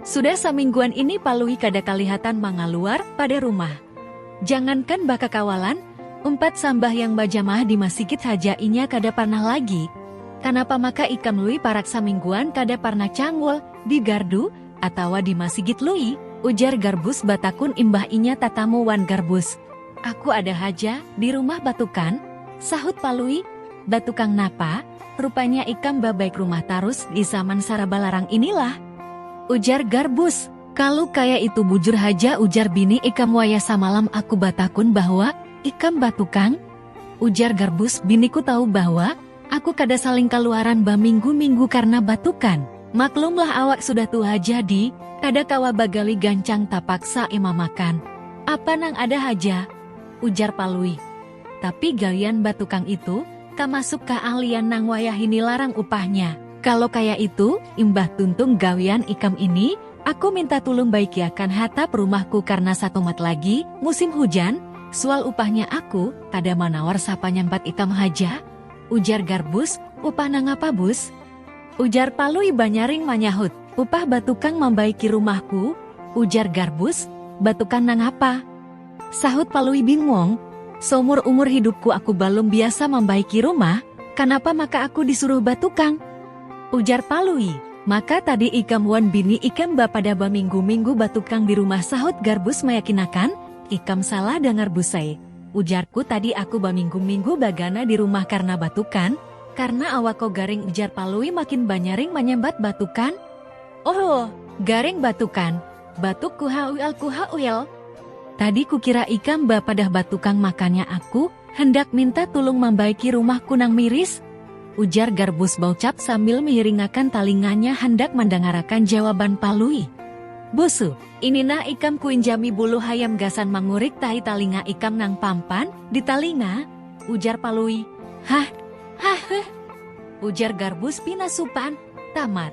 Sudah samingguan ini Palui kada kalihatan mangaluar pada rumah. Jangankan bakakawalan, umpat sambahyang bajamaah di masigit haja inya kada parnah lagi. Kanapa maka ikam Lui parak samingguan kada parnah cangul di gardu atawa di masigit Lui? ujar Garbus batakun imbah inya tatamu wan Garbus. Aku ada haja di rumah batukan, sahut Palui. Batukan napa? Rupanya ikam babaik rumah tarus di zaman saraba larang inilah? ujar Garbus. Kalu kaya itu bujur haja ujar bini ikam wayah samalam aku batakun bahwa ikam batukang? ujar Garbus, biniku tahu bahwa aku kada saling kaluaran baminggu-minggu karna batukan. Maklumlah awak sudah tuha jadi kada kawa bagali gancang tapaksa ema makan apa nang ada haja, ujar Palui. Tapi gawian batukang itu, tamasuk kaahlian nang wayahini larang upahnya. Kalo kaya itu, imbah tuntung gawian ikam ini, aku minta tulung baikiakan hatap rumahku karna satumat lagi, musim hujan, sual upahnya aku, kada manawar sapanyampat ikam haja? ujar Garbus, upah nangapa Bus? ujar Palui banyaring manyahut. Upah batukang mambaiki rumahku, ujar Garbus, batukang nangapa? Sahut Palui bingung, Saumur umur hidupku aku balum biasa mambaiki rumah, kanapa maka aku disuruh batukang? Ujar Palui, Maka tadi ikam wan bini ikam bapadah baminggu-minggu batukang di rumah sahut Garbus mayakinakan, Ikam salah dangar Busai, ujarku tadi aku baminggu-minggu bagana di rumah karna batukan, karna awakko garing ujar Palui makin banyaring manyambat batukan? Ohoh, garing batukan. Batuk kuhauialkuhauial. Tadi kukira ikam bapadah batukang makanya aku handak minta tulung mambaiki rumahku nang miris? ujar Garbus Baucap sambil mihiringakan talinganya handak mandangarakan jawaban Palui. Busu. Ini nah ikam kuinjami bulu hayam gasan mangurik tahi talinga ikam nang pampan di talinga, ujar Palui. Hah. Hahhh. Ujar Garbus pina supan. Tamat.